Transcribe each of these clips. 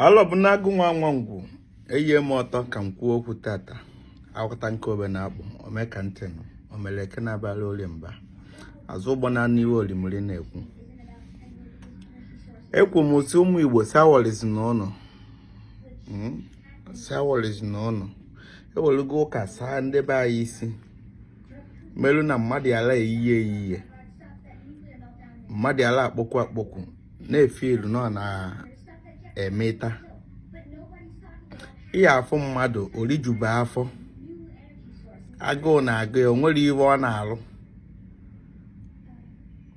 alọ bụ na-agụ nwa nwa ngwu eyie m ọtọ ka m kwuo okwu tata akwụta nke obe na-akpọ ome ka ntị nụ omere eke na-abara orie mba azụ ụgbọ na-anụ ife olimiri na-ekwu ekwu m si ụmụ igbo sawọlizi na ụnụ hmm? sawọlizi na ụnụ ewelugo ụka saa ndị be anyị isi melu na mmadụ ala eyiye eyiye mmadụ ala akpọkwu akpọkwu na-efe ilu nọ na-emeta ị ya-afụ mmadụ o rijube afọ agụụ na-agụ ya o nwere ihe ọ na-alụ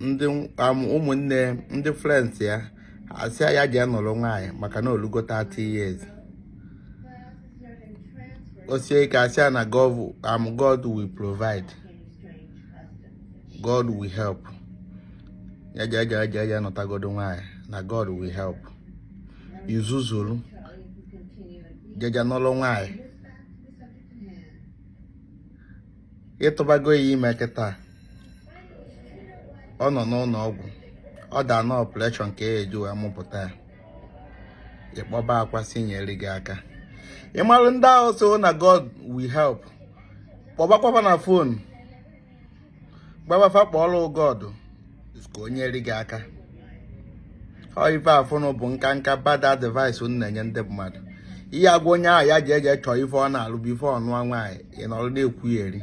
ndị um, ụmụnne ndị friends ya a sị ya je nụrụ nwaanyị maka na o lugo 30 years osie ike asị ya na um, God will provide God will help ya jeje ya nụtagodu nwaanyị na God will help i zuzuru jeje nụlụ nwaanyị ị tụbago ya ime kịta ọ nọ n'ụlọ ọgwụ ọ da na operation ka e ji wee mụpụta ya ị kpọbakwa sị nyere gị aka ị malụ ndị ahụ sị na God will help kpọbakwaba na phone gwaba fa kpọọlụ God ka o nyere gị aka ọ ife afụnụ bụ nkanka bad advice unu na-enye ndị mmadụ ị ya-agwa onye ahụ ya jeje chọọ ife ọ na-alụ before ọ nụọ nwaanyị ị nọrọ na-ekwugheri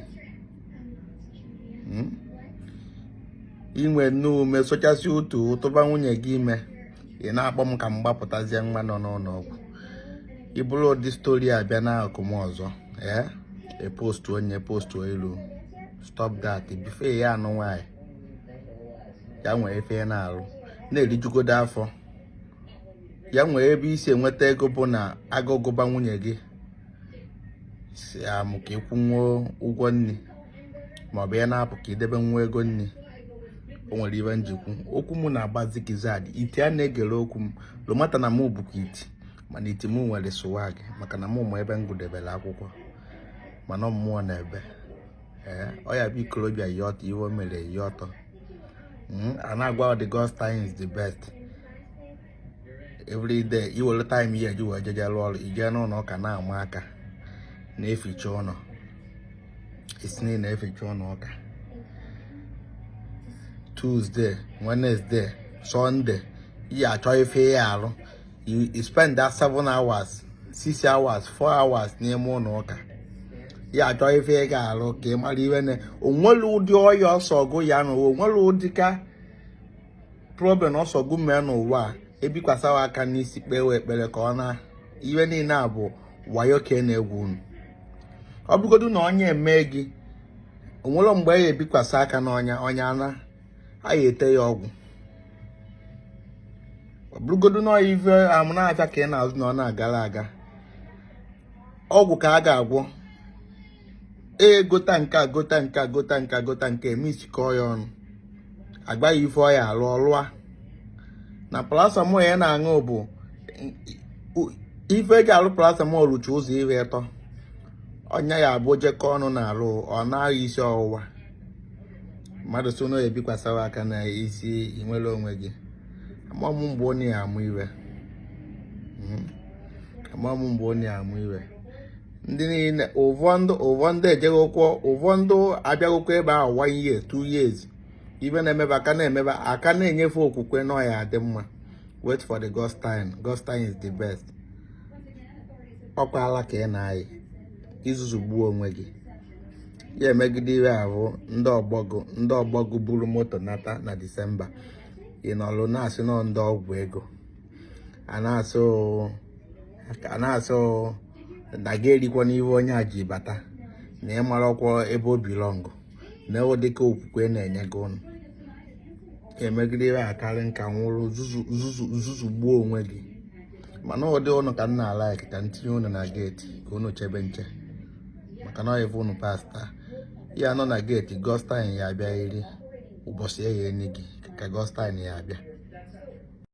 Hmm? i nwenụ ume sochasị utu tụba nwunye gị ime ị na-akpọ m ka m gbapụtazie nwa nọ n'ụlọ ọgwụ i buru ụdị story a bịa n'akụkụ m ọzọ ee e postu onye postu elu stop that before ị ya-anụ nwaanyị ya nwee ife na-arụ na-erijugodu afọ ya nwee ebe i si enweta ego bụ na agụụ gụba nwunye gị si amụ ka ị kwụnwuo ụgwọ nri maọbụ ya na-apụ ka i debe nwa ego nri o nwere ife m ji ekwu okwu m na-agbazi kizad iti a na-egere okwu m no matter na m bụkwa iti mana iti m nwere swag maka na m ma ebe m gụdebere akwụkwọ mana mmụọ na ebe ee ọ ya bụ ikorobịa yi ọtọ ife o mere yi ọtọ hmm, a na-agwa the God's time is the best every day i were time ị ya-eji wee jeje lụọ ọrụ i jee n'ụlọ ụka na-ama aka na-eficha ụlọ isi niile eficha ụlọ ụka Tuesday Wednesday Sunday ị ya-achọ ife ị ya-alụ you spend that seven hours six hours four hours n'ime ụlọ ụka ya achọ ife ị ga-alụ ka ị mara ife na o nwere ụdị ọya ọsọ gụ ya na o nwere ụdị ka problem ọsọ gụ mee n'ụwa ebikwasawa aka n'isi kpewe ekpere ka ọ naa ive niile a bụ wayo ka e na-egwu unu ọ bụrụgodu na ọnya eme gị o nwere mgbe ya ebikwasa aka n'ọnya ọnya naa a ya-ete ya ọgwụ ọ bụrụgodu na ọya ive amụ na-abịa ka ị na-azụ na ọ na-agara aga ọgwụ ka a ga-agwọ ee gota nke a gota nke a gota nke a gota nke misikọọ ya ọnụ agbaghị ife ọ ya alụ ọlụa na paracetamol ya na-aṅụ bụ ife e ji alụ paracetamol lucha ụzọ ihe ịtọ ọ ya abụ e jikọ ọnụ na-alụ ọ naghị isi ọwụwa mmadụ sị na ebikwasara aka n'isi i nwere onwe gị amamụ mgbe onye ya amụ ive hmm. amamụ mgbe onye ya amụ ive ndị niile ụfọdụ ụfọdụ ejegokwu ụfọdụ abịagokwu ebe ahụ one year two years ive a na-eme bụ a ka na-eme bụ a ka na-enye fe okwukwe na ọ ya-adị mma wait for the God's time God's time is the best ọ kwa ala ka ị na-ayị i zuzugbuo onwe gị ya emegide ihe ahụ ndị ọgbọ gị ndị ọgbọ gị buru moto nata na disemba ị nọlụ na-asị na ọ ndị ọgwụ ego a na-asị ka a na-asị na gị erikwa n'ive onye a ji bata na ị marọkwa ebe o belong na e wee dịka okwukwe na-enye gị ụnụ emegide ive a karị nka nwụrụ zuzugbuo onwe gị mana ụdị ụnụ ka m na-alike ka m tinye ụnụ na gate ka ụnụ chebe nche maka na ọyịbụ ụnụ pastor ya nọ na gate God's time ya abịa iri ụbọchị ya enye gị ka God's time ya abịa